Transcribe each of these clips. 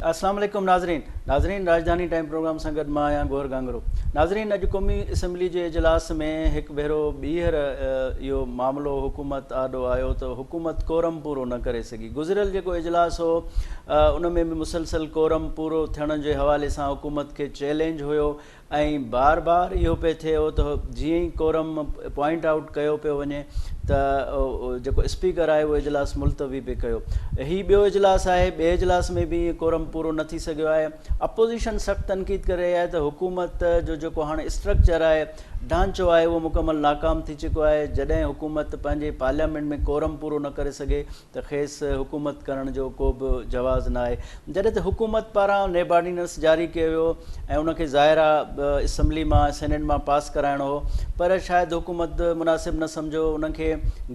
السلام عليڪم ناظرين ناظرين راڄڌاني ٽائيم پروگرام سان گڏ مان آهيان گوهر گانگرو ناظرين اڄ قومي اسيمبلي جي اجلاس ۾ هڪ ڀيرو ٻيهر اهو معاملو حڪومت آڏو آيو ته حڪومت ڪورم پورو نه ڪري سگهي گذريل جيڪو اجلاس هو ان ۾ به مسلسل ڪورم پورو ٿيڻ جي حوالي سان حڪومت کي چئلينج هيو ۽ بار بار اهو پئي ٿئي هو ته جيئن ئي ڪورم پوائنٽ آئوٽ ڪيو پيو وڃي ته جيڪو اسپيڪر آهي اهو اجلاس ملتوي به ڪيو هي ٻيو اجلاس آهي ٻئي اجلاس ۾ به ڪورم پورو نه ٿي سگهيو آهي اپوزيشن سخت تنقيد ڪري رهي آهي ته حڪومت جو جيڪو هاڻي اسٽرڪچر آهي ڍانچو آهي اهو مڪمل ناڪام ٿي چڪو آهي جڏهن حڪومت پنهنجي پارليامينٽ ۾ ڪورم پورو نه ڪري سگهي ته کيس حڪومت ڪرڻ جو ڪو به جواز ناهي جڏهن ته حڪومت پاران نيبارڊيننس جاري ڪيو ويو ۽ ان کي ظاهر آ اسمبلي مان ۽ سينيٽ مان پاس ڪرائڻو هو پر شايد حڪومت مناسب نه سمجهيو ان کي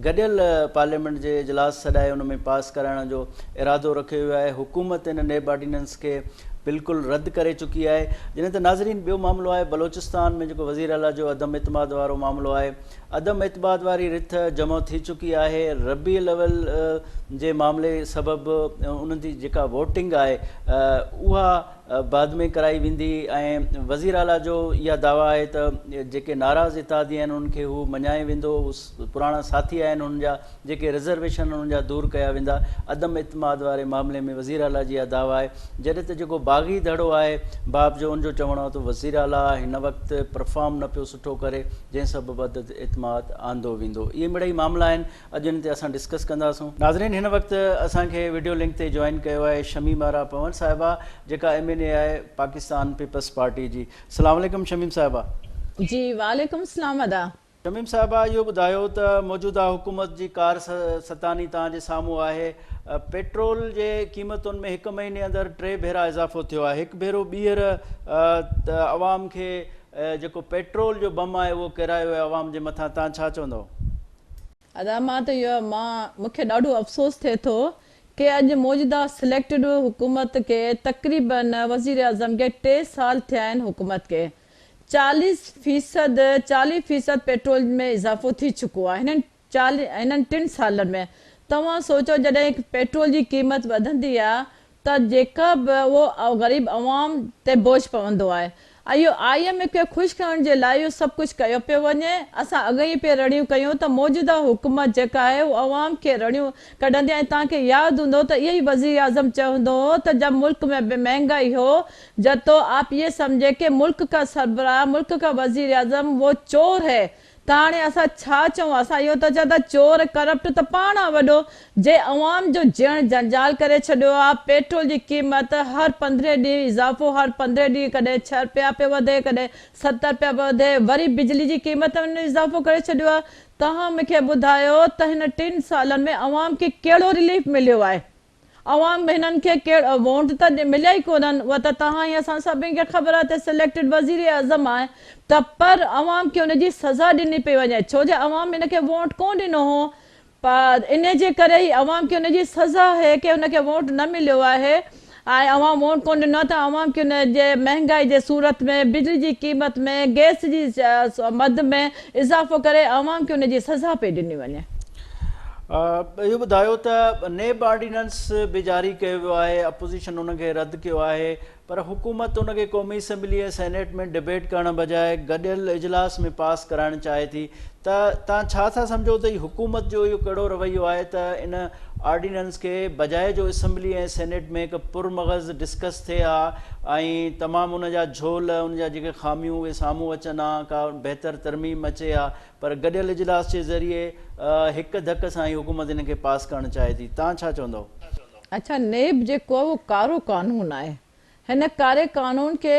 گڏيل پارليامينٽ جي اجلاس سڏائي ان ۾ پاس ڪرائڻ جو ارادو رکيو ويو آهي حڪومت ان نيبارڊيننس کي بلڪل رد ڪري چڪي آهي جڏهن ته ناظرين ٻيو معاملو آهي بلوچستان ۾ جيڪو وزيراعليٰ جو عدم اعتماد وارو معاملو آهي. عدم اعتماد واري رٿ جمع ٿي چڪي آهي ربيع الاول جي معاملي سبب انهن جي جيڪا ووٽنگ آهي اها بعد ۾ ڪرائي ويندي ۽ وزير اعليٰ جو اها دعويٰ آهي ته جيڪي ناراض اتحادي آهن انهن کي هو مڃائي ويندو پراڻا ساٿي آهن هن جا جيڪي رزرويشن انهن جا دور ڪيا ويندا عدم اعتماد واري معاملي ۾ وزير اعليٰ جي اها دعويٰ آهي جڏهن ته جيڪو باغي ڌڙو آهي باب جو ان جو چوڻ آهي ته وزير اعليٰ هن وقت پرفارم نه پيو سٺو ڪري جنهن سبب عدد اعتماد آندو ويندو اهي مڙئي معاملا آهن اڄ ان تي اسان ڊسڪس ڪنداسون. ناظرين هن وقت اسان کي وڊيو لنڪ تي جوائن ڪيو آهي شميم آرا پنور صاحبه جيڪا ايم اين اي آهي پاڪستان پيپلز پارٽي جي سلام عليڪم شميم صاحبه. جي وعليڪم السلام ادا. شميم صاحبه اهو ٻڌايو ته موجوده حڪومت جي ڪار ستاني توهان جي سامهون آهي پيٽرول جي قيمتن ۾ هڪ مهيني اندر ٽي ڀيرا اضافو ٿيو آهي هڪ ڀيرو ٻيهر عوام کي اهي جيڪو پيٽرول جو بم آهي اهو ڪيرايو ويو عوام جي مٿان تان ڇا چوندؤ. ادا مان ته اهو مان مونکي ڏاڍو افسوس ٿئي ٿو ڪي اڄ موجوده سليڪٽيڊ حڪومت کي تقريبا وزيراعظم کي ٽي سال ٿيا آهن حڪومت کي چاليس فيصد چاليهه فيصد پيٽرول ۾ اضافو ٿي چڪو آهي هنن چاليهن انهن ٽن سالن ۾، توهان سوچيو جڏهن پيٽرول جي قيمت وڌندي آهي ته جيڪا به اهو غريب عوام تي بوجهه پوندو آهي اهو آء ايم ايف کي خوش ڪرڻ جي لاء اهو سڀ ڪجهه ڪيو پيو وڃي اسان اڳ ئي پي رڙيون ڪيون ته موجوده حڪومت جيڪا آهي اهو عوام کي رڙيون ڪڍندي ۽ توهان کي ياد هوندو ته اهو ئي وزيراعظم چيو هوندو هو ته جب ملڪ ۾ به مهنگائي هو جب تو آپ يي سمجهي ڪي ملڪ ڪا سربراهه ملڪ ڪا وزيراعظم وو چور هي ته هاڻي اسان ڇا چئون؟ اسان اهو ٿا چئون ته چور ڪرپٽ ته پاڻ آ وڏو جنهن عوام جو جيئڻ جنجال ڪري ڇڏيو آ، پيٽرول جي قيمت هر پندرهين ڏينهن اضافو هر پندرهين ڏينهن ڪڏهن ڇهه رپيا پيو وڌي ڪڏهن ست رپيا پيو وڌي وري بجلي جي قيمت ۾ اضافو ڪري ڇڏيو آ توهان مون کي ٻڌايو ته هن ٽن سالن ۾ عوام کي ڪهڙو رليف مليو آهي؟ عوام هنن کي ڪيڙ وونٽ ته مليا ئي ڪونهن اها ته توهان ۽ اسان سڀني کي خبر آهي ته سليڪٽيڊ وزير اعظم آهي ته پر عوام کي ان جي سزا ڏني پئي وڃي ڇو جي عوام هن کي وونٽ ڪون ڏنو هو انهي جي ڪري ئي عوام کي ان جي سزا هي ڪي هن کي وونٽ نه مليو آهي ۽ عوام وونٽ ڪون ڏنو آهي ته عوام کي ان جي مهنگائي جي صورت ۾ بجلي جي قيمت ۾ گئس جي مد ۾ اضافو ڪري عوام کي ان جي سزا پئي ڏني وڃي. اهو ٻڌايو ته نيب آرڊيننس به جاري ڪيو ويو آهي، اپوزيشن ان کي رد ڪيو آهي پر حڪومت ان کي قومي اسيمبلي ۽ سينيٽ ۾ ڊبيٽ ڪرڻ بجاء گڏيل اجلاس ۾ پاس ڪرائڻ چاهي ٿي ته توهان ڇا ٿا سمجهو ته هي حڪومت جو اهو ڪهڙو رويو آهي ته ان آرڊيننس کي بجاء جو اسمبلي ۽ سينيٽ ۾ هڪ پر مغز ڊسڪس ٿئي ها ۽ تمام ان جا جھول ان جا جيڪي خاميون اهي سامهون اچن ها ڪا بهتر ترميم اچي ها پر گڏيل اجلاس جي ذريعي هڪ ڌڪ سان هي حڪومت ان کي پاس ڪرڻ چاهي ٿي تان ڇا چوندو. اچا نيب جيڪو اهو ڪارو قانون آهي. هن ڪاري قانون کي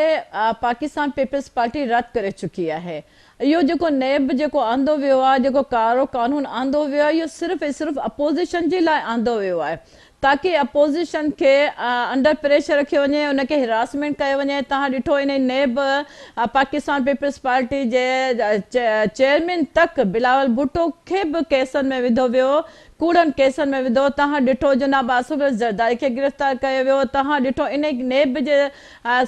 پاڪستان پيپلز پارٽي رد ڪري چڪي آهي. اهو جيڪو نيب جيڪو آندو ويو آهي، جيڪو ڪارو قانون آندو ويو آهي، اهو صرف ۽ صرف اپوزيشن جي لاء آندو ويو آهي تاڪي اپوزيشن کي انڊر پريشر رکيو وڃي، ان کي هراسمينٽ ڪيو وڃي. توهان ڏٺو انهي نيب پاڪستان پيپلز پارٽي جي چيئرمين تڪ بلاول ڀٽو کي به ڪيسن ۾ وڌو ويو، ڪوڙن ڪيسن ۾ وڌو، توهان ڏٺو جناب آصف زرداري کي گرفتار ڪيو ويو، توهان ڏٺو انهي نيب جي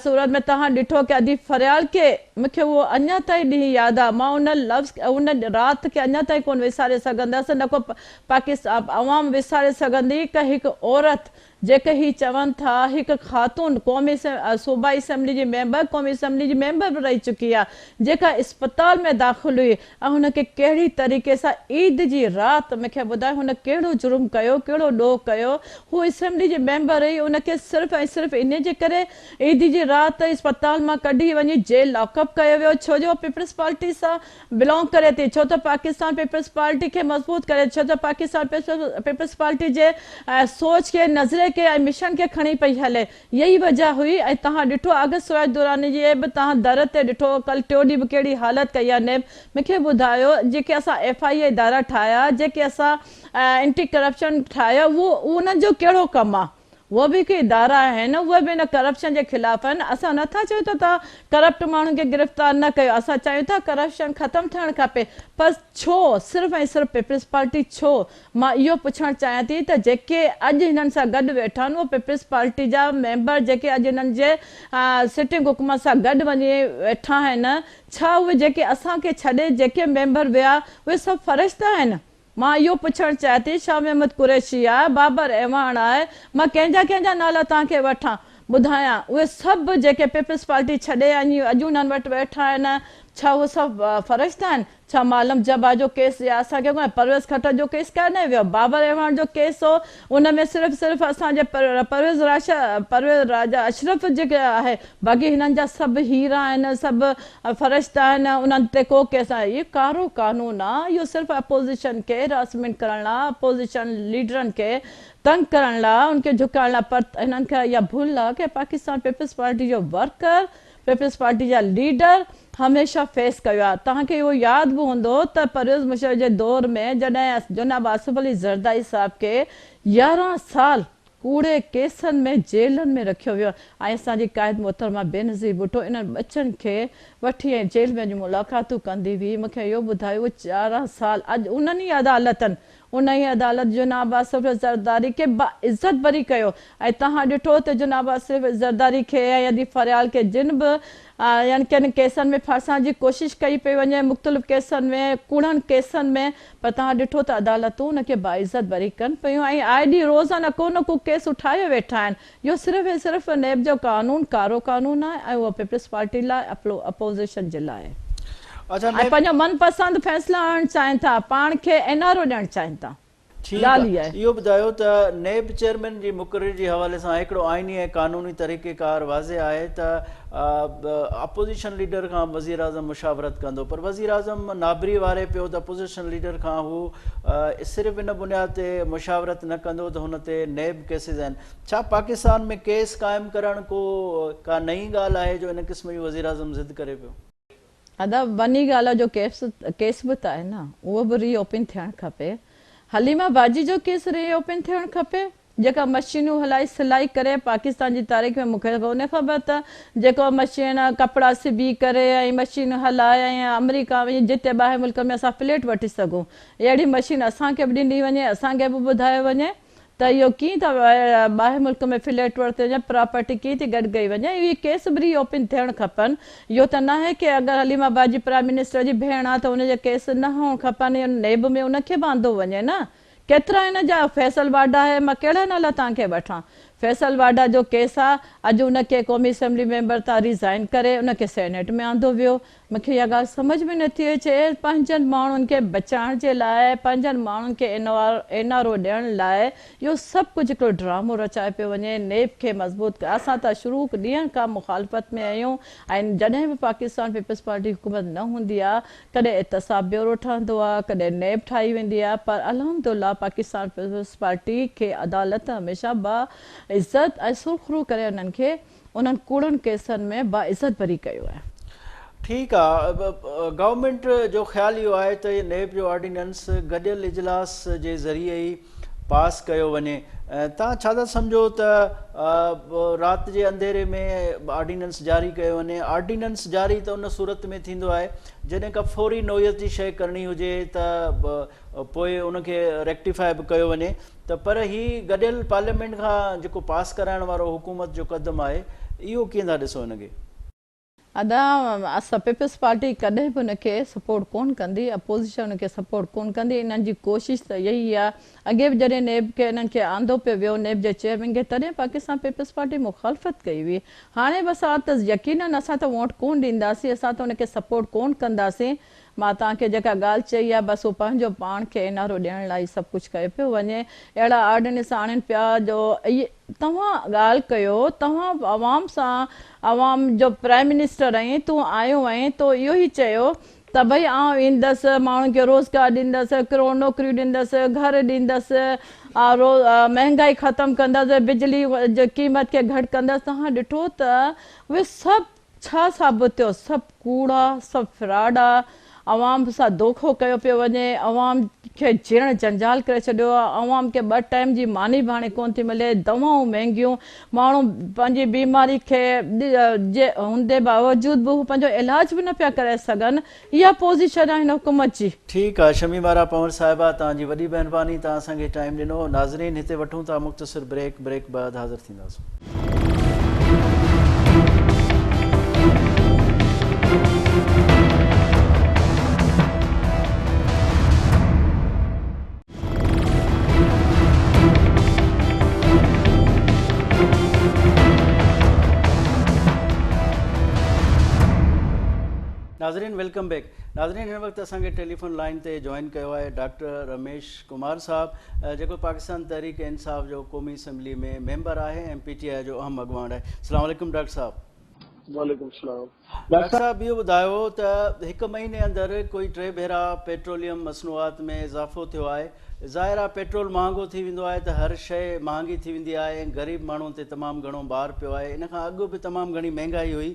صورت ۾ توهان ڏٺو ڪي ادي فريال کي، مون کي اهو اڃا تائين ڏينهن ياد آ، مان ان لفظ ان رات کي اڃا تائين ڪون وساري سگهندس، نه ڪو پاڪستان عوام وساري سگهندي ڪي هڪ عورت جيڪي هي چون ٿا هڪ خاتون قومي صوبائي اسيمبلي جي ميمبر قومي اسيمبلي جي ميمبر به رهي چڪي آهي جيڪا اسپتال ۾ داخل هئي ۽ هن کي ڪهڙي طريقي سان عيد جي رات مون کي ٻڌايو هن ڪهڙو جرم ڪيو ڪهڙو ڏوهه ڪيو هو اسيمبلي جي ميمبر هئي ان کي صرف ۽ صرف انهي جي ڪري عيد جي رات اسپتال مان ڪڍي وڃي جيل لاڪ اپ ڪيو ويو ڇو جو هو پيپلز پارٽي سان بلانگ ڪري ٿي ڇو ته پاڪستان پيپلز پارٽي کي مضبوط ڪري ڇو ته پاڪستان پيپلز پارٽي جي سوچ کي نظرئي کي ۽ مشن کي کڻي پئي هلي اها ئي وجه هئي ۽ تهان ڏٺو آگسٽ سويت دوران جي به تهان در تي ڏٺو ڪل ٽيو ڏينهن به ڪهڙي حالت ڪئي آهي نيب مونکي ٻڌايو جيڪي اسان ايف آئي اي ادارا ٺاهيا جيڪي اسان اينٽي ڪرپشن ٺاهيا اهو انهن جو ڪهڙو ڪم آهي. اهي به هڪ ادارا آهن اهي به ان ڪرپشن جي خلاف آهن اسان نه ٿا چيون ته توهان ڪرپٽ ماڻهن کي گرفتار نه ڪيو اسان چاهيون ٿا ڪرپشن ختم ٿيڻ کپي پر ڇو صرف ۽ صرف پيپلز پارٽي ڇو مان اهو پڇڻ چاهيان ٿي ته جيڪي اڄ هنن سان گڏ ويٺا آهن اهي پيپلز پارٽي جا ميمبر جيڪي اڄ هنن جي سٽنگ حڪومت سان گڏ وڃي ويٺا آهن ڇا اهي جيڪي اسان کي ڇڏي جيڪي ميمبر ويا اهي سڀ فرشتا آهن مان اهو پڇڻ چاهيان ٿي شاهه محمد قريشي آء، بابر اعواڻ آء، مان ڪنهن جا ڪنهن جا نالا توهان کي وٺان، ٻڌايان. اهي سڀ جيڪي پيپلز پارٽي ڇڏي اڃ اڄ انهن وٽ ويٺا آهن، ڇا اهي سڀ فرشتا آهن؟ ڇا معلم جبا جو ڪيس يا اسان کي ڪو ۽ پرويز خٽڪ جو ڪيس ڪاهي نه ويو؟ بابر اعواڻ جو ڪيس هو ان ۾ صرف صرف اسان جي پرويز راجا اشرف جي آهي باقي هنن جا سڀ هيرا آهن سڀ فرشته آهن انهن تي ڪو ڪيس ناهي اهو ڪارو قانون آ اهو صرف اپوزيشن کي هراسمينٽ ڪرڻ لا اپوزيشن ليڊرن کي تنگ ڪرڻ لا ان کي جهڪائڻ لا پر هنن کي اها ڀل آ ڪي پاڪستان پيپلز پارٽي جو ورڪر پيپلز پارٽي جا ليڊر هميشه فيس ڪيو آهي توهان کي اهو ياد به هوندو ته پرويز مشرف جي دور ۾ جڏهن جناب آصف علي زرداري صاحب کي يارهن سال ڪوڙي ڪيسن ۾ جيلن ۾ رکيو ويو ۽ اسان جي قائد محترمه بينظير ڀٽو انهن ٻچن کي وٺي ۽ جيل ۾ وڃي ملاقاتون ڪندي هئي مون کي اهو ٻڌايو اهي چارهن سال اڄ انهن ئي عدالتن انهيء عدالت جناب آصف زرداري کي باعزت بري ڪيو ۽ توهان ڏٺو ته جناب آصف زرداري کي ۽ ادي فريال کي جن به يعني ڪن ڪيسن ۾ ڦاسائڻ جي ڪوشش ڪئي پئي وڃي مختلف ڪيسن ۾ ڪوڙن ڪيسن ۾ پر توهان ڏٺو ته عدالتون ان کي باعزت بري ڪن پيون ۽ آء ڏينهن روزانه ڪو نه ڪو ڪيس اٺايو ويٺا آهن اهو صرف ۽ صرف نيب جو قانون ڪارو قانون آهي ۽ اهو پيپلز پارٽي لاء اپوزيشن جي لاء آهي اچا ۽ نيب پنهنجو من پسند فيصلا آڻڻ چاهين ٿا پاڻ کي اين آر او ڏيڻ چاهين ٿا ٺيڪ ڳالهه اها آهي. اهو ٻڌايو ته نيب چيئرمين جي مقرري جي حوالي سان هڪڙو آئيني ۽ قانوني طريقيڪار واضح آهي ته اپوزيشن ليڊر کان وزيراعظم مشاورت ڪندو پر وزيراعظم نابري واري پيو ته اپوزيشن ليڊر کان هو صرف ان بنياد تي مشاورت نه ڪندو ته هن تي نيب ڪيسز آهن ڇا پاڪستان ۾ ڪيس قائم ڪرڻ ڪو ڪا نئين ڳالهه آهي جو ان قسم جي وزيراعظم ضد ڪري پيو. ادا وني گالا جو ڪيس به ته آهي نه اهو به ري اوپن ٿيڻ کپي حليمه باجي جو ڪيس ري اوپن ٿيڻ کپي جيڪا مشينون هلائي سلائي ڪري پاڪستان جي تاريخ ۾ مونکي ڪونهي خبر ته جيڪو مشين ڪپڙا سبي ڪري ۽ مشينون هلائي ۽ آمريڪا وڃي جتي ٻاهر ملڪ ۾ اسان فليٽ وٺي سگهون اهڙي مشين اسان کي به ڏني وڃي اسان کي به ٻڌايو وڃي ته اهو ڪيئن ٿا ٻاهر ملڪ ۾ فليٽ ورتي وڃي پراپرٽي ڪيئن ٿي گڏ ڪئي وڃي اهي ڪيس به ري اوپن ٿيڻ کپن اهو ته ناهي ڪي اگر حليم آباد جي پرائم منسٽر جي ڀيڻ آ ته ان جا ڪيس نه هئڻ کپن نيب ۾ ان کي به آندو وڃي نه ڪيترا هن جا فيصل واڍا هي مان ڪهڙا نالا تان کي وٺان فيصل واڍا جو ڪيس آ اڄ ان کي قومي اسيمبلي ميمبر تان ريزائين ڪري ان کي سينيٽ ۾ آندو ويو مون کي اها ڳالهه سمجهه ۾ نٿي اچي پنهنجن ماڻهن کي بچائڻ جي لاء پنهنجن ماڻهن کي اين آر او ڏيڻ لاء اهو سڀ ڪجهه هڪڙو ڊرامو رچايو پيو وڃي نيب کي مضبوط ڪري اسان ته شروع ڏينهن کان مخالفت ۾ اهيون ۽ جڏهن به پاڪستان پيپلز پارٽي حڪومت نه هوندي آ ڪڏهن احتساب بيورو ٺهندو آ ڪڏهن نيب ٺاهي ويندي آ پر الحمد الله پاڪستان پيپلز پارٽي کي عدالت هميشه با عزت ۽ سرخرو ڪري انهن کي انهن ڪوڙن ڪيسن ۾ با عزت بري ڪيو آهي. ٺيڪ آ گورنمينٽ جو خيال اهو آهي ته نيب جو آرڊيننس گڏيل اجلاس جي ذريعي ئي پاس ڪيو وڃي توهان ڇا ٿا سمجهو ته رات جي انڌيري ۾ آرڊيننس جاري ڪيو وڃي آرڊيننس جاري ته ان صورت ۾ ٿيندو آهي جڏهن کا فوري نوعيت جي شيء ڪرڻي هجي ته پوء ان کي ريڪٽيفاء به ڪيو وڃي ته پر هي گڏيل پارليامينٽ کان جيڪو پاس ڪرائڻ وارو حڪومت جو قدم آهي اهو ڪيئن ٿا ڏسو هن کي ادا اسا پيپلز پارٽي ڪڏهن به ان کي سپورٽ ڪون ڪندي اپوزيشن ان کي سپورٽ ڪون ڪندي انهن جي ڪوشش ته اهي ئي آ اڳي به جڏهن نيب کي انهن کي آندو پيو ويو نيب جي چيئرمين کي تڏهن پاڪستان پيپلز پارٽي مخالفت ڪئي هئي هاڻي به اسان ته يقينن اسان ته وونٽ ڪون ڏينداسين اسان ته ان کي سپورٽ ڪون ڪنداسين مان توهان کي جيڪا ڳالهه چئي آهي بس هو پنهنجو پاڻ کي انارو ڏيڻ لاء هي سڀ ڪجهه ڪيو پيو وڃي اهڙا آرڊيننس آڻين پيا جو اهي توهان ڳالهه ڪيو توهان عوام سان عوام جو پرائم منسٽر آهين تون آيو آهين تو اهو هي چيو ته ڀئي آئون ايندس ماڻهن کي روزگار ڏيندس ڪروڙ نوڪريون ڏيندس گهر ڏيندس مهنگائي ختم ڪندس بجلي جي قيمت کي گهٽ ڪندس توهان ڏٺو ته اهي سڀ ڇا ثابت ٿيو؟ سڀ ڪوڙا، سڀ فراڊا، عوام سان دوکو ڪيو پيو وڃي، عوام کي جيئڻ جنجال ڪري ڇڏيو آهي، عوام کي ٻه ٽائيم جي ماني به هاڻي ڪونه ٿي ملي، دوائون مهنگيون، ماڻهو پنهنجي بيماري کي جي هوندي باوجود به هو پنهنجو علاج به نه پيا ڪرائي سگهن، اها پوزيشن آهي هن حڪومت جي. ٺيڪ آ شميم آرا پنور صاحبه توهان جي وڏي مهرباني توهان اسان کي ٽائيم ڏنو ناظرين هتي وٺون ٿا مختصر بريڪ بريڪ بعد حاضر ٿينداسون. ناظرين ويلڪم بيڪ ناظرين هن وقت اسان کي ٽيليفون لائن تي جوائن ڪيو آهي ڊاڪٽر رميش ڪمار صاحب جيڪو پاڪستان تحريڪ انصاف جو قومي اسيمبلي ۾ ميمبر آهي ۽ پي ٽي آء جو اهم اڳواڻ آهي السلام عليڪم ڊاڪٽر صاحب وعليڪم السلام ڊاڪٽر صاحب اهو ٻڌايو ته هڪ مهيني اندر ڪوئي ٽي ڀيرا پيٽروليم مصنوعات ۾ اضافو ٿيو آهي ظاهر آهي پيٽرول مهانگو ٿي ويندو آهي ته هر شيء مهانگي ٿي ويندي آهي ۽ غريب ماڻهن تي تمام گهڻو بار پيو آهي ان کان اڳ به تمام گهڻي مهنگائي هئي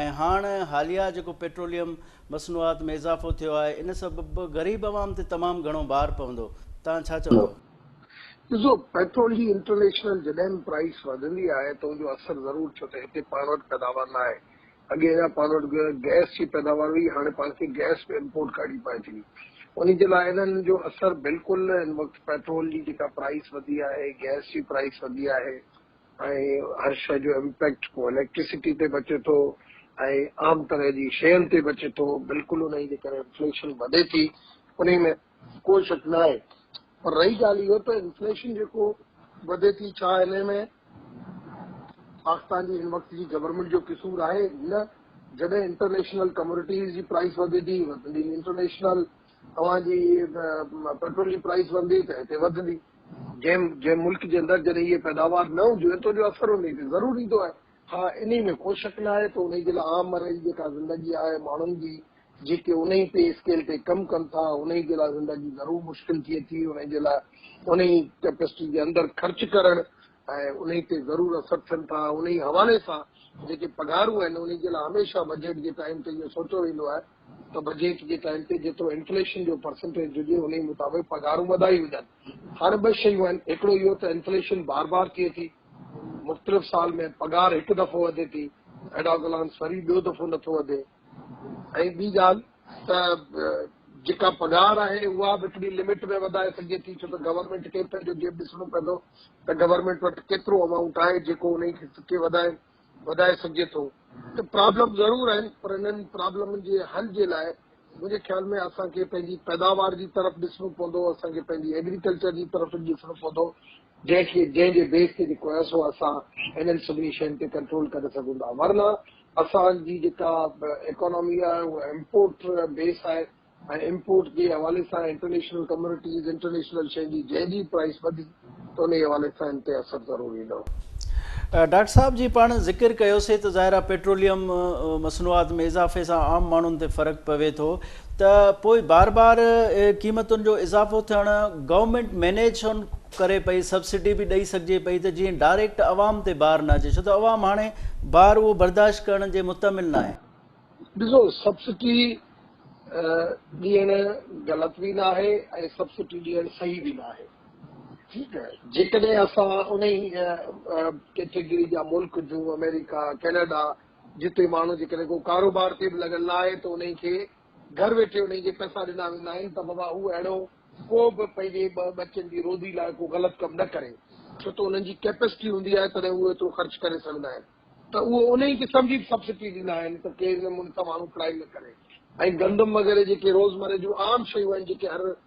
۽ هاڻ حاليا جيڪو پيٽروليم مصنوعات ۾ اضافو ٿيو آهي ان سبب غريب عوام تي تمام گهڻو بار پوندو توهان ڇا چوندو. ڏسو پيٽرول جي انٽرنيشنل جڏهن به پرائس وڌندي آهي ته ان جو اثر ضرور ڇو ته هتي پاڻ وٽ پيداوار ناهي اڳي اڃا پاڻ وٽ گئس جي پيداوار هئي، هاڻي پاڻ کي گئس به امپورٽ ڪرڻي پوي ٿي. انهي جي لاء انهن جو اثر بلڪل هن وقت پيٽرول جي جيڪا پرائس وڌي آهي، گئس جي پرائس وڌي آهي ۽ هر شيء جو امپيڪٽ پوء اليڪٽرسٽي تي به اچي ٿو ۽ عام طرح جي شين تي به اچي ٿو. بلڪل انهي جي ڪري انفليشن وڌي ٿي. انهي ۾. ڪو شڪ نه آهي پر رهي ڳالهه اهو ته انفليشن جيڪو وڌي ٿي ڇا انهي ۾ پاڪستان جي هن وقت جي گورنمينٽ جو قصور آهي نه جڏهن انٽرنيشنل ڪموڊيٽيز جي پرائس وڌندي وڌندي انٽرنيشنل اوهان جي پيٽرول جي پرائس وڌندي ته هتي وڌندي جنهن جنهن ملڪ جي اندر جڏهن هي پيداوار نه هونديون آهن ته ان جو اثر انهي تي ضرور ايندو آهي ها انهي ۾ ڪو شڪ نه آهي ته انهي جي لاء عام مرحلي جيڪا زندگي آهي ماڻهن جي جيڪي انهي پي اسڪيل تي ڪم ڪن ٿا انهي جي لاء زندگي ضرور مشڪل ٿئي ٿي، انهي جي لاء انهي ڪيپسٽي جي اندر خرچ ڪرڻ ۽ انهي تي ضرور اثر ٿين ٿا، انهي حوالي سان جيڪي پگهارون آهن انهي جي لاء هميشه بجيٽ جي ٽائيم تي اهو سوچيو ويندو آهي ته بجيٽ جي ٽائيم تي جيترو انفليشن جو پرسنٽيج هجي انهي مطابق پگهارون وڌائي وڃن، هاڻي ٻه شيون آهن هڪڙو اهو ته انفليشن بار بار ٿئي ٿي، مختلف سال ۾ پگهار هڪ دفعو وڌي ٿي ايڊاز الانس وري ٻيو دفعو نٿو وڌي. ۽ ٻي ڳالهه ته جيڪا پگهار آهي اها به هڪڙي لمٽ ۾ وڌائي سگهجي ٿي ڇو ته گورنمينٽ کي پنهنجو جيب ڏسڻو پوندو ته گورنمينٽ وٽ ڪيترو امائونٽ آهي جيڪو انهي کي وڌائي وڌائي سگهجي ٿو ته پرابلم ضرور آهن پر انهن پرابلمن جي حل جي لاء منهنجي خيال ۾ اسان کي پنهنجي پيداوار جي طرف ڏسڻو پوندو اسان کي پنهنجي ايگريڪلچر جي طرف ڏسڻو پوندو جنهن کي جنهن جي بيس تي جيڪو آهي سو اسان انهن سڀني شين تي ڪنٽرول ڪري سگهون ٿا ورنه اسان جي جيڪا ايڪانامي آهي اها امپورٽ بيس آهي ۽ امپورٽ جي حوالي سان انٽرنيشنل ڪميونٽيز انٽرنيشنل شين جي جنهن جي پرائس وڌي ته انهي حوالي سان ان تي اثر ضرور ايندو. ڊاڪٽر صاحب جي پاڻ ذڪر ڪيوسي ته ظاهر آهي پيٽروليم مصنوعات ۾ اضافي سان عام ماڻهن تي فرق پوي ٿو ته پوء بار بار قيمتن جو اضافو ٿيڻ گورنمينٽ مينيج ڇو نه ڪري پئي سبسڊي به ڏئي سگهجي پئي ته جيئن ڊائريڪٽ عوام تي بار نه اچي ڇو ته عوام هاڻي بار اهو برداشت ڪرڻ جي متعمل ناهي. ڏسو سبسڊي ڏيڻ غلط به ناهي ۽ سبسڊي ڏيڻ صحيح به ناهي ٺيڪ جيڪڏهن اسان انهي ڪيٽيگري جا ملڪ جون آمريڪا ڪينيڊا جتي ماڻهو جيڪڏهن ڪو ڪاروبار تي به لڳل نه آهي ته انهي کي گهر ويٺي انهي کي پئسا ڏنا ويندا آهن ته بابا هو اهڙو ڪو به پنهنجي ٻه ٻچن جي روزي لاء ڪو غلط ڪم نه ڪري ڇو ته انهن جي ڪيپسٽي هوندي آهي تڏهن اهو ايترو خرچ ڪري سگهندا آهن ته اهو انهي کي سمجهي به سبسڊي ڏيندا آهن ته ڪي ان ملڪ ماڻهو ڪرائيم نه ڪري ۽ گندم وغيره جيڪي روزمره جون عام شيون آهن جيڪي هر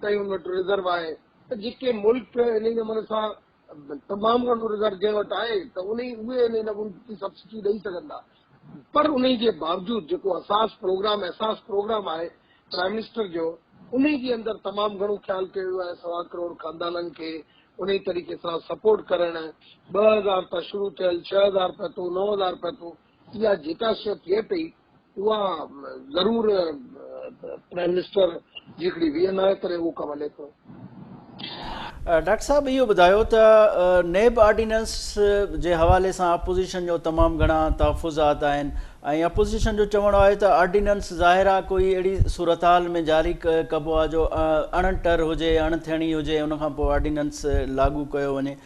تائين ان وٽ رزرو آهي ته جيڪي ملڪ انهي نموني سان تمام گهڻو رزرو جنهن وٽ آهي ته انهي اهي انهي نموني جي سبسڊي ڏئي سگهندا پر انهي جي باوجود جيڪو اساس پروگرام احساس پروگرام آهي پرائم منسٽر جو انهي جي اندر تمام گهڻو خيال ڪيو ويو آهي سوا ڪروڙ خاندانن کي انهي طريقي سان سپورٽ ڪرڻ ٻه هزار تان شروع ٿيل ڇهه هزار پهتو نو هزار پهتو اها جيڪا شيء ٿئي پئي اها ضرور پرائم منسٽر جي هڪڙي وي اين آء ڪري اهو ڪم هلي ٿو. ڊاڪٽر صاحب اهو ٻڌايو ته نيب آرڊيننس جي حوالي سان اپوزيشن جو تمام گهڻا تحفظات آهن ۽ اپوزيشن جو چوڻ آهي ته آرڊيننس ظاهر آهي ڪوئي اهڙي صورتحال ۾ جاري ڪبو آهي جو اڻ ٽر هجي اڻ ٿيڻي هجي ان کان پوء آرڊيننس لاڳو ڪيو وڃي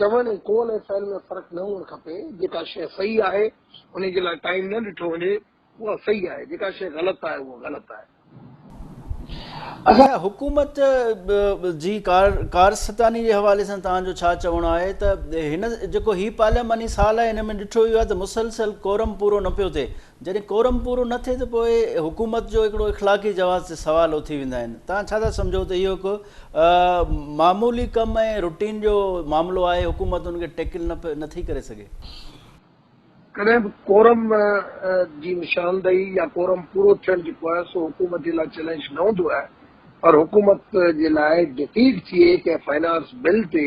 چوڻ ۽ قول ۽ فعل ۾ فرق نه هئڻ کپي، جيڪا شيء صحيح آهي، انهي جي لاء ٽائيم نه ڏٺو وڃي، اها صحيح آهي، جيڪا شيء غلط آهي، اها غلط آهي. اچا حڪومت جي ڪارستاني جي حوالي سان توهان جو ڇا چوڻ آهي ته هن جيڪو هي پارلياماني سال آهي ان ۾ ڏٺو ويو آهي ته مسلسل ڪورم پورو نه پيو ٿئي جڏهن ڪورم پورو نه ٿئي ته پوء حڪومت جو هڪڙو اخلاقي جواز تي سوال اٿي ويندا آهن، توهان ڇا ٿا سمجهو ته اهو هڪ معمولي ڪم ۽ روٽين جو معاملو آهي، حڪومت ان کي ٽيڪل نه ٿي ڪري سگهي؟ ڪڏهن به ڪورم جي نشاندهي يا ڪورم پورو ٿيڻ جيڪو آهي سو حڪومت جي لاء چئلينج نه هوندو آهي پر حڪومت جي لاء ڊفيٽ ٿئي ڪنهن فنانس بل تي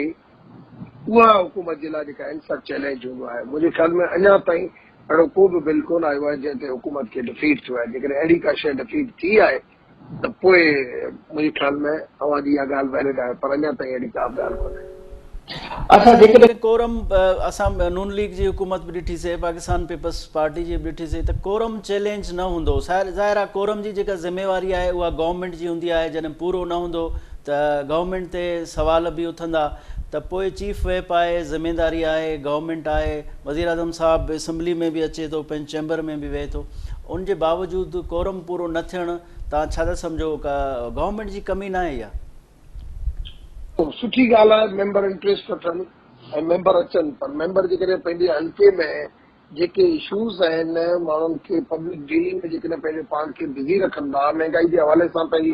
اها حڪومت جي لاء جيڪا اينڪر چئلينج هوندو آهي منهنجي خيال ۾ اڃا تائين اهڙو ڪو به بل ڪونه آيو آهي جنهن تي حڪومت کي ڊفيٽ ٿيو آهي جيڪڏهن اهڙي ڪا شيء ڊفيٽ ٿي آهي ته پوء منهنجي خيال ۾ اوهان جي اها ڳالهه ويلڊ آهي پر اڃا تائين اهڙي ڪا به ڳالهه ڪونه اچا جيڪڏهن ڪورم اسان نون ليگ جي حڪومت به ڏٺي سي پاڪستان پيپلز پارٽي جي به ڏٺي سي ته ڪورم چئلينج نه هوندو ظاهر آهي ڪورم جي جيڪا ذميواري آهي اها گورنمينٽ جي هوندي آهي جڏهن پورو نه هوندو ته گورنمينٽ تي سوال به اٿندا ته پوء چيف ويپ آهي، ذميداري آهي، گورنمينٽ آهي، وزيراعظم صاحب اسمبلي ۾ به اچي ٿو، پنهنجي چيمبر ۾ به ويهي ٿو، ان جي باوجود ڪورم پورو نه ٿيڻ تان ڇا ٿا سمجهو گورنمينٽ جي ڪمي ناهي اها؟ خب سٺي ڳالهه آهي ميمبر انٽريسٽ وٺن ۽ ميمبر اچن پر ميمبر جيڪڏهن پنهنجي حلقي ۾ جيڪي اشوز آهن ماڻهن کي پبلڪ ڊيلنگ ۾ جيڪڏهن پنهنجو پاڻ کي بزي رکندا مهنگائي جي حوالي سان پنهنجي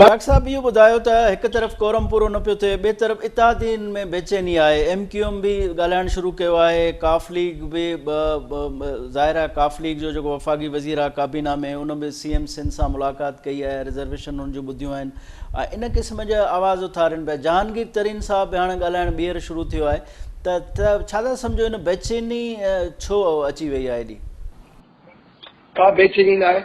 بارڪ صاحب اهو ٻڌايو ته هڪ طرف ڪورم پورو نه پيو ٿئي ٻئي طرف اتحادين ۾ بيچيني آهي ايم ڪيو ايم به ڳالهائڻ شروع ڪيو آهي ڪاف ليگ به ظاهر آهي ڪاف ليگ جو جيڪو وفاقي وزير آهي ڪابينا ۾ ان به سي ايم سنڌ سان ملاقات ڪئي آهي رزرويشن ان جون ٻڌيون آهن ان قسم جا آواز اٿارين پيا جهانگير ترين صاحب به هاڻي ڳالهائڻ ٻيهر شروع ٿيو آهي ته ڇا ٿا سمجهو ان بيچيني ڇو اچي وئي آهي ايڏي ڪا بيچيني ناهي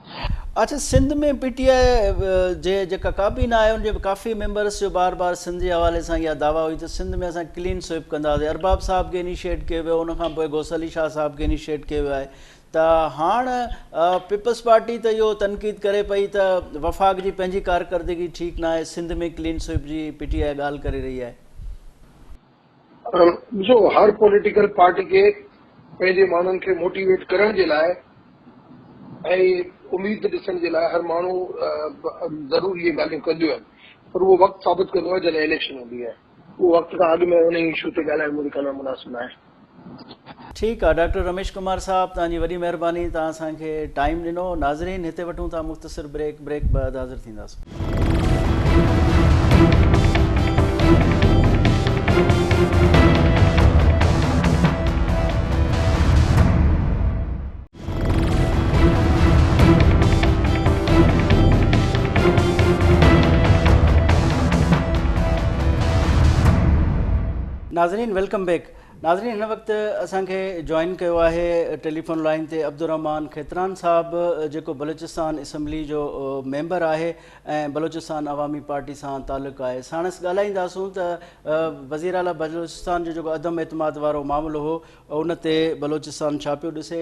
اچ سنڌ ۾ پي ٽي آء جي جيڪا ڪابينا آهي ان جي ڪافي ميمبرس جو بار بار سنڌ جي حوالي سان اها دعويٰ هئي ته سنڌ ۾ اسان ڪلين سوئپ ڪنداسين ارباب صاحب کي انيشيئيٽ ڪيو ويو ان کان پوء غوث علي شاهه صاحب کي انيشيئيٽ ڪيو ويو آهي ته هاڻ پيپلز پارٽي ته اهو تنقيد ڪري پئي ته وفاق جي پنهنجي ڪارڪردگي ٺيڪ ناهي سنڌ ۾ ڪلين سوئپ جي پي ٽي آء ڳالهه ڪري رهي آهي پر ڏسو هر پوليٽيڪل پارٽي کي پنهنجي ماڻهن کي موٽيويٽ ڪرڻ جي لاء ۽ اميد ڏسڻ جي لاء هر ماڻهو ضرور اهي ڳالهيون ڪنديون آهن پر اهو وقت ثابت ڪندو آهي جڏهن اليڪشن هوندي آهي اهو وقت کان اڳ ۾ انهي اشو تي ڳالهائڻ منهنجي خيال ۾ مناسب ناهي. ٺيڪ آ ڊاڪٽر رميش ڪمار صاحب توهان جي وڏي مهرباني توهان اسان کي ٽائيم ڏنو ناظرين هتي وٺون ٿا مختصر بريڪ بريڪ بعد حاضر ٿينداسون. ناظرين ويلڪم بيڪ ناظرين هن وقت اسان کي جوائن ڪيو آهي ٽيليفون لائين تي عبدالرحمان کيتران صاحب جيڪو بلوچستان اسمبلي جو ميمبر آهي ۽ بلوچستان عوامي پارٽي سان تعلق آهي ساڻس ڳالهائينداسون ته وزير اعليٰ بلوچستان جو جيڪو عدم اعتماد وارو معاملو هو ان تي بلوچستان ڇا پيو ڏسي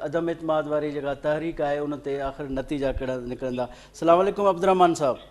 عدم اعتماد واري جيڪا تحريڪ آهي ان تي آخر نتيجا ڪهڙا نڪرندا السلام عليڪم عبدالرحمان صاحب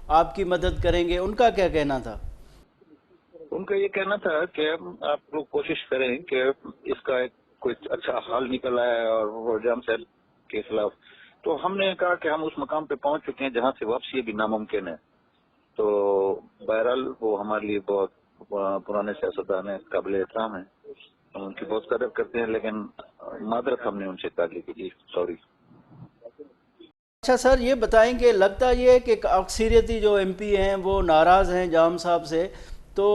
آپ ڪي مدد ڪرين گي ان ڪا ڪيا ڪهنا ٿا؟ ان ڪا يه ڪهنا ٿا ڪه آپ لوگ ڪوشش ڪرين ڪه اس ڪا ايڪ ڪوئي اڇا حل نڪل آيه اور هو جام صاحب ڪي خلاف تو هم ني ڪها ڪه هم اس مقام پي پهونچ چڪي هين جهان سي واپسي ابهي ناممڪن هي تو بهرحال وو هماري ليئي بهت پراني سياستدان هين قابل احترام هين هم ان ڪي بهت قدر ڪرتي هين ليڪن معدرت هم ني ان سي ڪا ليئي ڪي جي سوري. اچھا سر يھ بتائين ڪي لگتا يھ ھي ڪي اڪثريتي جو ايم پي ھين وو ناراض ھين جام صاحب سي تو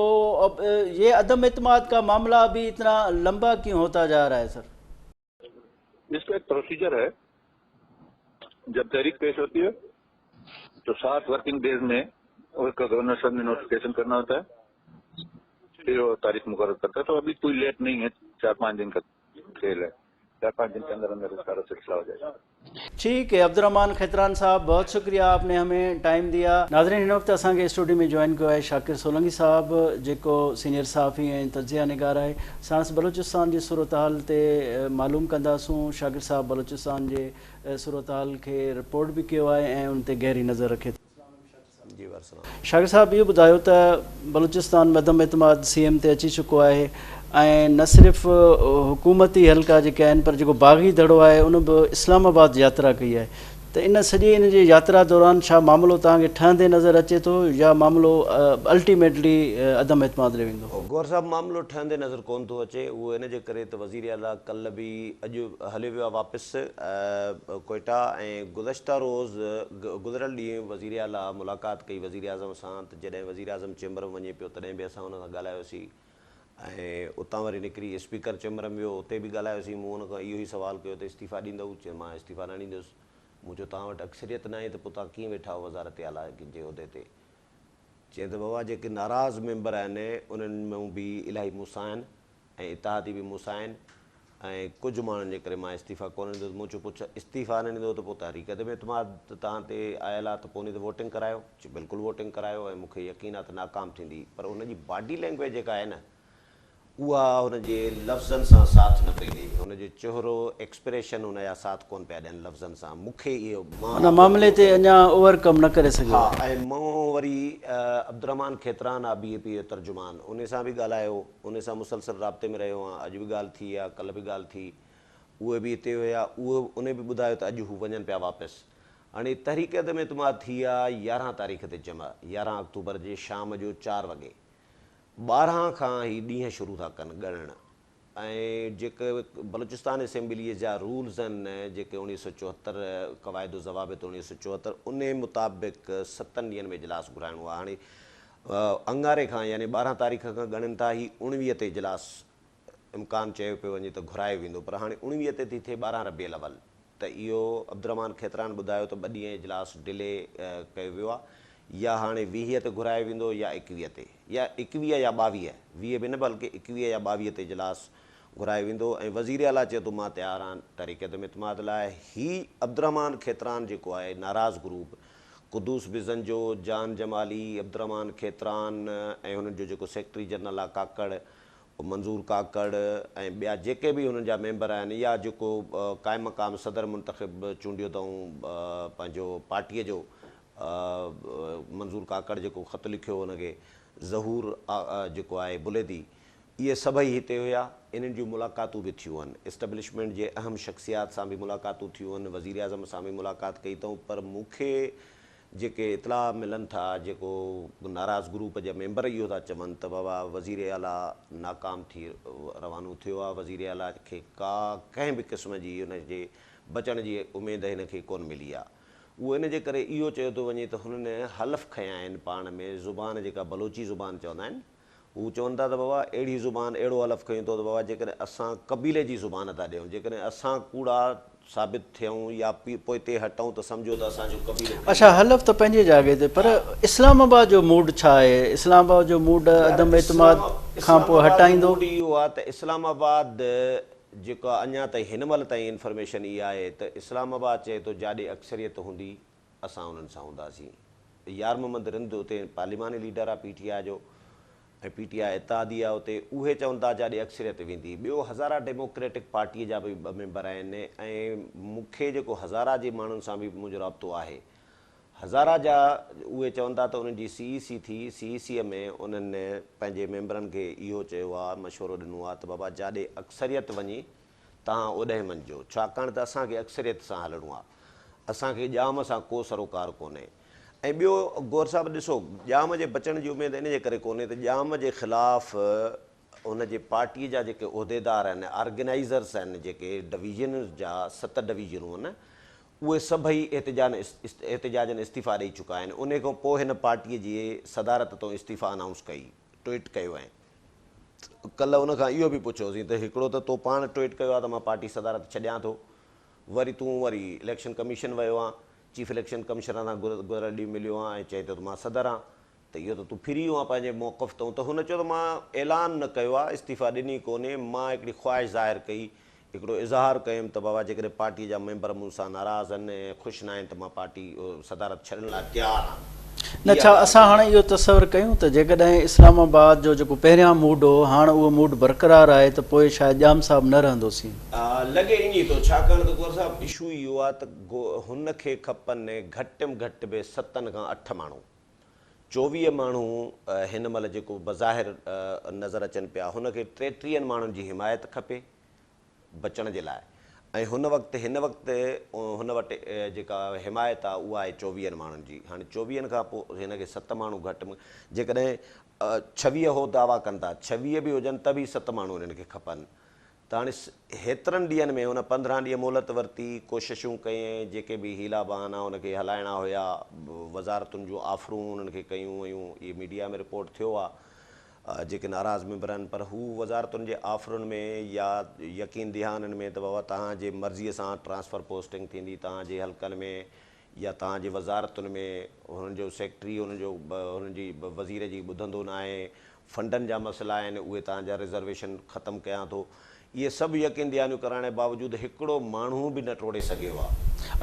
اب يھ عدم اعتماد ڪا معاملا ابھي اتنا لمبا ڪيون ھوتا جا رھا ھي سر. اس کا ايک پروسيجر ھي جب تحريڪ پيش ھوتي ھي تو سات ورڪنگ ڊيز مي اس کا گورنر صاحب ني نوٽيفڪيشن ڪرنا ھوتا ھي پھر وو تاريخ مقرر کرتا ھي تو ابھي ڪوئي ليٽ نھين ھي چار پانچ دن کا کيل ڪرپا جن چندر اندر اس کا رسد ساو جائے. ٺيڪ هي عبدالرحمان کيتران صاحب بهت شڪريا آپ ني همي ٽائيم ديا. ناظرين هن وقت اسان کي اسٽوڊيو ۾ جوائن ڪيو آهي شاڪر سولنگي صاحب جيڪو سينئر صحافي ۽ تجزيه نگار آهي ساڻس بلوچستان جي صورتحال تي معلوم ڪنداسون شاڪر صاحب بلوچستان جي صورتحال کي رپورٽ به ڪيو آهي ۽ ان تي گهري نظر رکي ٿو. شاگرد صاحب اهو ٻڌايو ته بلوچستان ۾ عدم اعتماد سي ايم تي اچي چڪو آهي ۽ نه صرف حڪومتي حلقا جيڪي آهن پر جيڪو باغي دڙو آهي ان به اسلام آباد ياترا ڪئي آهي ته ان سڄي ان جي ياترا دوران ڇا معاملو توهان کي ٺهندي نظر اچي ٿو يا معاملو الٽيميٽلي عدم اعتماد ڏي ويندو؟ گوهر صاحب معاملو ٺهندي نظر ڪون ٿو اچي اهو ان جي ڪري ته وزير اعليٰ ڪلهه به اڄ هليو ويو آهي واپس ڪوئيٽا ۽ گذشته روز گذريل ڏينهن وزير اعليٰ ملاقات ڪئي وزيراعظم سان ته جڏهن وزيراعظم چيمبر ۾ وڃي پيو تڏهن به اسان هن سان ڳالهايو سين ۽ اتان وري نڪري اسپيڪر چيمبر ۾ ويو اتي به ڳالهايو سين مون هن کان اهو ئي سوال ڪيو ته استعيفيٰ ڏيندؤ چيو مان استعيفيٰ نه ڏيندس مون چيو توهان وٽ اڪثريت ناهي ته پوء توهان ڪيئن ويٺا آهيو وزارت اعليٰ جي عهدي تي چيائين ته بابا جيڪي ناراض ميمبر آهن انهن مان به الاهي مون سان آهن. ۽ اتحادي به مون سان آهن ۽ ڪجهه ماڻهن جي ڪري مان استعيفيٰ ڪونه ڏيندس، مون چيو پڇ استعيفيٰ نه ڏيندو ته پوء تحريڪ عدم اعتماد ته توهان تي آيل آ ته پوني ته ووٽنگ ڪرايو، چي بلڪل ووٽنگ ڪرايو ۽ مون کي يقين آ ته ناڪام ٿيندي پر هن جي باڊي لينگويج جيڪا آهي نه اها هن جي لفظن سان ساٿ نه پئي ڏئي، هن جو چهرو ايڪسپريشن هن جا ساٿ ڪونه پيا ڏين لفظن سان، مون کي اهو مان ان معاملي تي اڃا اوور ڪم نه ڪري سگهيو آهي. ها ۽ مون وري عبدالرحمان کيتران آ بي اي پي جو ترجمان انهي سان به ڳالهايو هو انهي سان مسلسل رابطي ۾ رهيو آهيان، اڄ به ڳالهه ٿي آ، ڪلهه به ڳالهه ٿي، اهي به هتي هيا، اهي انهي به ٻڌايو ته اڄ هو وڃن پيا واپس. هاڻي تحريڪ عدم اعتماد ٿي آ يارهن تاريخ تي جمع، يارهن آڪتوبر جي شام جو چار وڳي ٻارهن کان هي ڏينهن شروع ٿا ڪن ڳڻڻ ۽ جيڪي بلوچستان اسيمبليء جا رولز آهن جيڪي اڻويهه سؤ چوهتر قواعد و ضوابط اڻويهه سؤ چوهتر انهي مطابق ستن ڏينهن ۾ اجلاس گهرائڻو آ هاڻي اڱاري کان يعني ٻارهن تاريخ کان ڳڻين ٿا، هي اوڻويهه تي اجلاس امڪان چيو پيو وڃي ته گهرايو ويندو پر هاڻي اوڻويهه تي ٿي ٿئي ٻارهن ربيع الاول ته اهو عبدالرحمان کيتران ٻڌايو ته ٻه ڏينهن اجلاس ڊلي ڪيو ويو آهي يا هاڻي ويهه تي گهرايو ويندو يا ايڪويهه تي يا ايڪويهه يا ٻاويهه ويهه به نه بلڪه ايڪويهه يا ٻاويهه تي اجلاس گهرايو ويندو ۽ وزيراعليٰ چيو ته مان تيار آهيان تحريڪ عدم اعتماد لاء هي عبدالرحمان کيتران جيڪو آهي ناراض گروپ قدوس بزنجو، جان جمالي، عبدالرحمان کيتران ۽ هنن جو جيڪو سيڪريٽري جنرل آ ڪاڪڙ منظور ڪاڪڙ ۽ ٻيا جيڪي به هنن جا ميمبر آهن يا جيڪو قائم مقام صدر منتخب چونڊيو اٿئون پنهنجو پارٽيء جو منظور ڪاڪڙ جيڪو خط لکيو هو هن کي ظهور جيڪو آهي بليدي اهي سڀئي هتي هيا، انهن جون ملاقاتون به ٿيون هن، اسٽبلشمينٽ جي اهم شخصيات سان به ملاقاتون ٿيون هن، وزيراعظم سان به ملاقات ڪئي اٿئون پر مون کي جيڪي اطلاع ملن ٿا جيڪو ناراض گروپ جا ميمبر اهو ٿا چون ته بابا وزير اعليٰ ناڪام ٿي روانو ٿيو آهي، وزير اعليٰ کي ڪا ڪنهن به قسم جي هن جي بچڻ جي اميد هن کي ڪونه ملي آهي، اهو ان جي ڪري اهو چيو ٿو وڃي ته هنن حلف کنيا آهن پاڻ ۾ زبان جيڪا بلوچي زبان چوندا آهن. هو چون ٿا ته بابا اهڙي زبان اهڙو حلف کنيون اٿو ته بابا جيڪڏهن اسان قبيلي جي زبان ادا ڏيون جيڪڏهن اسان ڪوڙا ثابت ٿيون يا پوئتي هٽون ته سمجهو ته اسان جو قبيلو ڪري اڇا حلف ته پنهنجي جاڳي تي پر اسلام آباد جو موڊ ڇا آهي اسلام آباد جو موڊ عدم اعتماد کان پوء هٽائيندو. اسلام آباد جو موڊ اهو آهي ته اسلام آباد جيڪا اڃا تائين هن مهل تائين انفرميشن اها آهي ته اسلام آباد چئي ٿو جاڏي اڪثريت هوندي اسان انهن سان هونداسين. يار محمد رند اتي پارليماني ليڊر آ پي ٽي آء جو ۽ پي ٽي آء اتحادي آ اتي اهي چون ٿا جاڏي اڪثريت ويندي ٻيو هزارا ڊيموڪريٽڪ پارٽي جا به ٻه ميمبر آهن ۽ مون کي جيڪو هزارا جي ماڻهن سان به منهنجو رابطو آهي هزارا جا اهي چون ٿا ته انهن جي سي اي سي ٿي سي اي سي ۾ انهن پنهنجي ميمبرن کي اهو چيو آ مشورو ڏنو آ ته بابا جاڏي اڪثريت وڃي تهان اوڏهين مڃجو، ڇاڪاڻ ته اسان کي اڪثريت سان هلڻو آ. اسان کي ڄام سان ڪو سروڪار ڪونهي. ۽ ٻيو گوهر صاحب ڏسو، ڄام جي بچڻ جي اميد ان جي ڪري ڪونهي ته ڄام جي خلاف ان جي پارٽيء جا جيڪي عهديدار آهن، آرگنائيزرس آهن جيڪي ڊويزن جا، ست ڊويزنون آهن، اهي سڀئي احتجاجن استعيفا ڏئي چڪا آهن. انهيء کان پوء هن پارٽيء جي صدارت تون استعيفا انائونس ڪئي. ٽوئيٽ ڪيو آهي ته ڪلهه ان کان اهو به پڇيوسين ته هڪڙو ته تو پاڻ ٽوئيٽ ڪيو آهي ته مان پارٽي صدارت ڇڏيان ٿو وري تون وري اليڪشن ڪميشن ويو آهين چيف اليڪشن ڪمشنر سان گذريل ڏينهن مليو آهين ۽ چئين ٿو ته مان صدر آهيان ته اهو ته تون ڦري ويو آهين پنهنجي موقف تان ته هن چيو ته مان اعلان نه ڪيو آهي استعيفيٰ ڏني ڪونهي مان هڪڙي خواهش ظاهر ڪئي هڪڙو اظهار ڪيم ته بابا جيڪڏهن پارٽيء جا ميمبر مون سان ناراض آهن ۽ خوش ناهن ته مان پارٽي صدارت ڇڏڻ لاء تيار آهيان. نه ڇا اسان هاڻ اهو تصور ڪيون ته جيڪڏهن اسلام آباد جو جيڪو پهريان موڊ هو هاڻ اهو موڊ برقرار آهي ته پوء شايد ڄام صاحب نه رهندوسين. لڳي اڃي ٿو ڇاڪاڻ ته گوهر صاحب. اشو اهو آهي ته هن کي کپن گهٽ م گهٽ به ستن کان اٺ ماڻهو. چوويهه ماڻهو هن مهل جيڪو بظاهر نظر اچن پيا هن کي ٽيٽيهن ماڻهن جي حمايت کپي بچڻ جي لاء ۽ هن وقت هن وقت هن وٽ جيڪا حمايت آهي اها آهي چوويهن ماڻهن جي هاڻي چوويهن کان پوء هن کي ست ماڻهو گهٽ م جيڪڏهن ڇويهه هو دعويٰ ڪن ٿا ڇويهه به هجن ته به ست ماڻهو هنن کي کپن تاڻيس هيترن ڏينهن ۾ هن پندرهن ڏينهن مهلت ورتي، ڪوششون ڪيئين، جيڪي به حيلا بهانا هن کي هلائڻا هيا، وزارتن جون آفرون هنن کي ڪيون ويون، اهي ميڊيا ۾ رپورٽ ٿيو آ، جيڪي ناراض ميمبر آهن، پر هو وزارتن جي آفرن ۾ يا يقين دهانن ۾ ته بابا توهان جي مرضي سان ٽرانسفر پوسٽنگ ٿيندي، توهان جي حلقن ۾ يا توهان جي وزارتن ۾ هنن جو سيڪريٽري هنن جو هنن جي وزير جي ٻڌندو ناهي، فنڊن جا مسئلا آهن اهي توهان جا رزرويشن ختم ڪيان ٿو. اهي سڀ يقين دهانيون ڪرائڻ جي باوجود هڪڙو ماڻهو به نه ٽوڙي سگهيو آهي.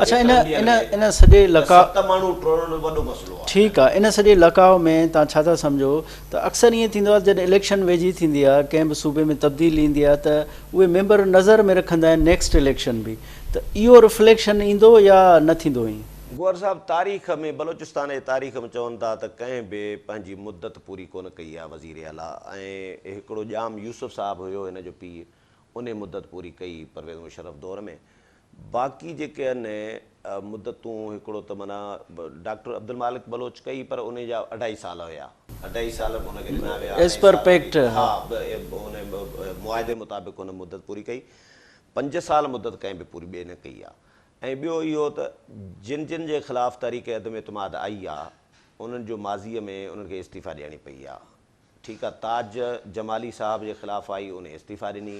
اڇا ان ان ان سڄي لقاء ست ماڻهو ٽوڙڻ وڏو مسئلو آهي. ٺيڪ آهي ان سڄي لقاء ۾ توهان ڇا ٿا سمجهو ته اڪثر ائين ٿيندو آهي ته جڏهن اليڪشن ويجهي ٿيندي آهي ڪنهن به صوبي ۾ تبديلي ايندي آهي ته اهي ميمبر نظر ۾ رکندا آهن نيڪسٽ اليڪشن به ته اهو رفليڪشن ايندو يا نه ٿيندو ائين؟ گوهر صاحب تاريخ ۾ بلوچستان جي تاريخ ۾ چون ٿا ته ڪنهن به پنهنجي مدت پوري ڪونه ڪئي آ وزير اعليٰ ۽ هڪڙو ڄام يوسف صاحب هيو هن جو پيء انهي مدت پوري ڪئي پرويز مشرف دور ۾ باقي جيڪي ان مدتون هڪڙو ته معنيٰ ڊاڪٽر عبدالمالڪ بلوچ ڪئي پر انهي جا اڍائي سال هيا اڍائي سال به ان کي ڏنا ويا اڍائي سال به ها ان معاهدي مطابق هن مدت پوري ڪئي پنج سال مدت ڪنهن به پوري ٻئي نه ڪئي آهي ۽ ٻيو اهو ته جن جن جي خلاف تحريڪ عدم اعتماد آئي آهي انهن جو ماضي ۾ انهن کي استعيفا ڏيڻي پئي آهي ٺيڪ آهي تاج جمالي صاحب جي خلاف آئي انهي استعيفا ڏني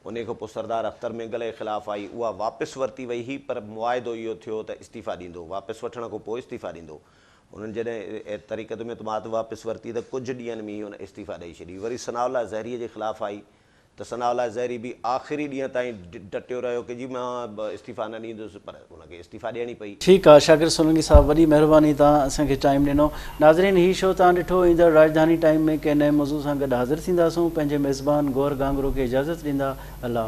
انهي کان پوء سردار اختر مينگل جي خلاف آئي اها واپس ورتي وئي هئي پر معاهدو اهو ٿيو ته استعيفا ڏيندو واپس وٺڻ کان پوء استعيفا ڏيندو انهن جڏهن تحريڪ عدم اعتماد واپس ورتي ته ڪجهه ڏينهن ۾ ئي ان استعيفا ڏئي ڇڏي وري ثناء الله زهري جي خلاف آئي ته ثناء الله زهري به آخري ڏينهن تائين ڊٽيو رهيو ڪي جي مان استعيفيٰ نه ڏيندس پر ان کي استعيفيٰ ڏيڻي پئي. ٺيڪ آ شاڪر سولنگي صاحب وڏي مهرباني تان اسان کي ٽائيم ڏنو. ناظرين هي شو تان ڏٺو ايندڙ راڄڌاني ٽائيم ۾ ڪنهن نئين موضوع سان گڏ حاضر ٿينداسون پنهنجي ميزبان گوهر گانگرو کي اجازت ڏيندا الله.